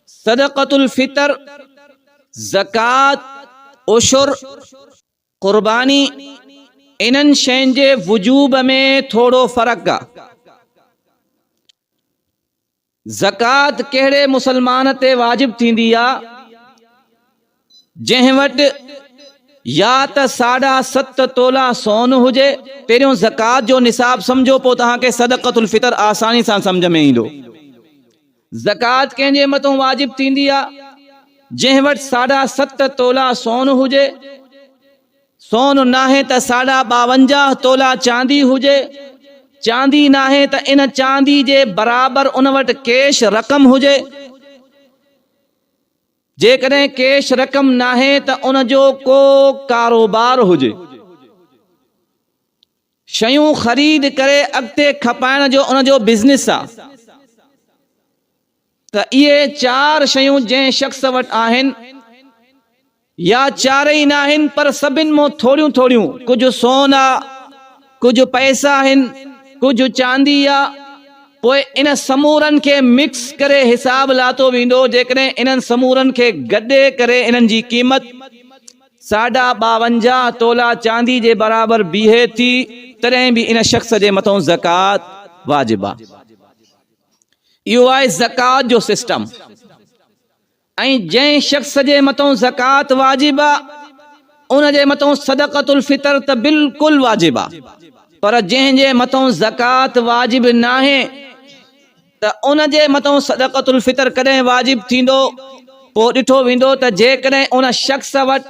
صدقة الفطر، زڪوات، عشر، قرباني، انهن شين جي وجوب ۾ ٿورو فرق آ. زڪوات ڪهڙي مسلمان تي واجب ٿيندي آ؟ جنهن وٽ يا ته ساڍا ست تولا سون هجي، پهريون زڪوات جو نصاب سمجهو پوء توهان کي صدقة الفطر آساني سان سمجهه ۾ ايندو. زڪوات ڪنهن جي مٿون واجب ٿيندي آهي؟ جنهن وٽ ساڍا ست تولا سون هجي، سون ناهي ته ساڍا ٻاونجاهه تولا چاندي هجي، چاندي ناهي ته ان چاندي جي برابر ان وٽ ڪيش رقم هجي، جيڪڏهن ڪيش رقم ناهي ته ان جو ڪو ڪاروبار هجي. شيون خريد ڪري اڳتي کپائڻ جو ان جو بزنس آ ته اهي چار شيون جنهن شخص وٽ آهن يا چارئي ناهن پر سڀن مون ٿوريون ٿوريون ڪجهه سون آ، ڪجهه پئسا آهن، ڪجهه چاندي آ، پوء ان سمورن کي مڪس ڪري حساب لاتو ويندو، جيڪڏهن انهن سمورن کي گڏي ڪري انهن جي قيمت ساڍا ٻاونجاهه تولا چاندي جي برابر بيهي ٿي، تڏهن به ان شخص جي مٿئون زڪوات واجب آ. اهو آهي زڪوات جو سسٽم. ۽ جنهن شخص جي مٿان زڪوات واجب آ ان جي مٿان صدقة الفطر ته بلڪل واجب آ پر جنهن جي مٿان زڪوات واجب ناهي ته ان جي مٿان صدقة الفطر ڪڏهن واجب ٿيندو پوء ڏٺو ويندو ته جيڪڏهن ان شخص وٽ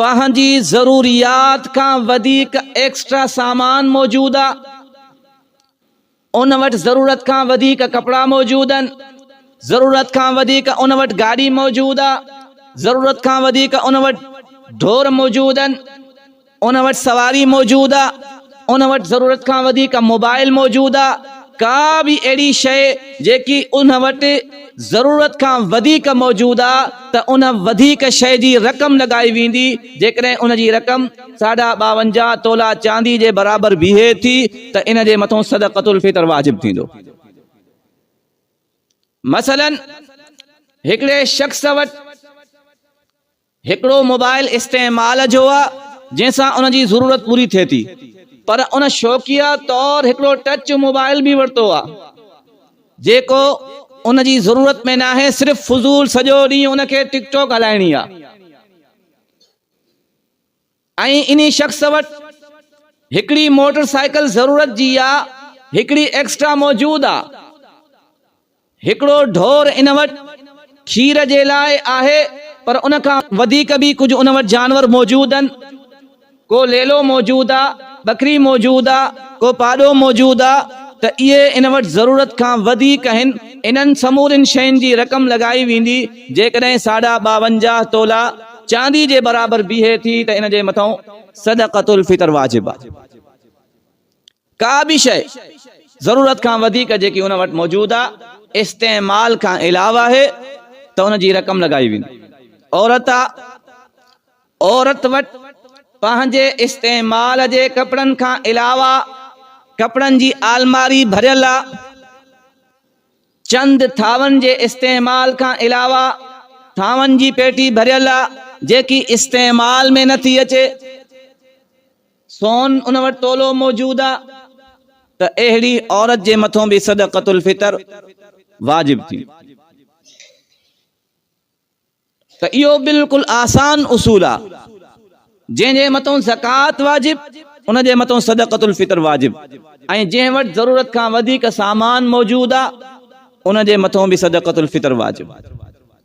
پنهنجي ضروريات کان وڌيڪ ايڪسٽرا سامان موجود آ ان وٽ ضرورت کان وڌيڪ ڪپڙا موجود آهن، ضرورت کان وڌيڪ ان وٽ گاڏي موجود آهي، ضرورت کان وڌيڪ ان وٽ ڍور موجود آهن، ان وٽ سواري موجود آهي، ان وٽ ضرورت کان وڌيڪ موبائل موجود آهي، ڪا به اهڙي شيء جيڪي ان وٽ ضرورت کان وڌيڪ موجود آهي ته ان وڌيڪ شيء جي رقم لڳائي ويندي جيڪڏهن ان جي رقم ساڍا ٻاونجاهه تولا چاندي جي برابر بيهي ٿي ته ان جي مٿون صدقة الفطر واجب ٿيندو. مثلاً هڪڙي شخص وٽ هڪڙو موبائل استعمال جو آ جنهن سان ان جي ضرورت پوري ٿئي ٿي پر ان شوقيه طور هڪڙو ٽچ موبائل به ورتو آ جيڪو ان جي ضرورت ۾ ناهي صرف فضول سڄو ڏينهن ان کي ٽڪ ٽوڪ هلائڻي آ. ۽ انهي شخص وٽ هڪڙي موٽر سائيڪل ضرورت جي آ هڪڙي ايڪسٽرا موجود آ هڪڙو ڍور ان وٽ کير جي لاء آهي پر ان کان وڌيڪ به ڪجهه ان وٽ جانور موجود ان ڪو ليلو موجود آ ٻڪري موجود آ ڪو پاڏو موجود آ ته اهي ان وٽ ضرورت کان وڌيڪ هن انهن سمورين شين جي رقم لڳائي ويندي جيڪڏهن ساڍا ٻاونجاهه تولا چاندي جي برابر بيهي ٿي ته ان جي مٿئون صدقة الفطر واجب آهي. ڪا به شيء ضرورت کان وڌيڪ جيڪي ان وٽ موجود آهي استعمال کان علاوه آهي ته ان جي رقم لڳائي ويندي. عورت آهي، عورت وٽ پنهنجي استعمال جي ڪپڙن کان علاوه ڪپڙن جي آلماري ڀريل آهي، چند ٿانون جي استعمال کان علاوه ٿانون جي پيٽي ڀريل آ جيڪي استعمال ۾ نه ٿي اچي سون ان وٽ تولو موجود آ ته اهڙي عورت جي مٿون به صدقة الفطر واجب ٿيندي. ته اهو بلڪل آسان اصول آ جنهن جي مٿون زڪوات واجب ان جي مٿون صدقة الفطر واجب ۽ جنهن وٽ ضرورت کان وڌيڪ سامان موجود آ ان جي مٿون به صدقة الفطر واجب.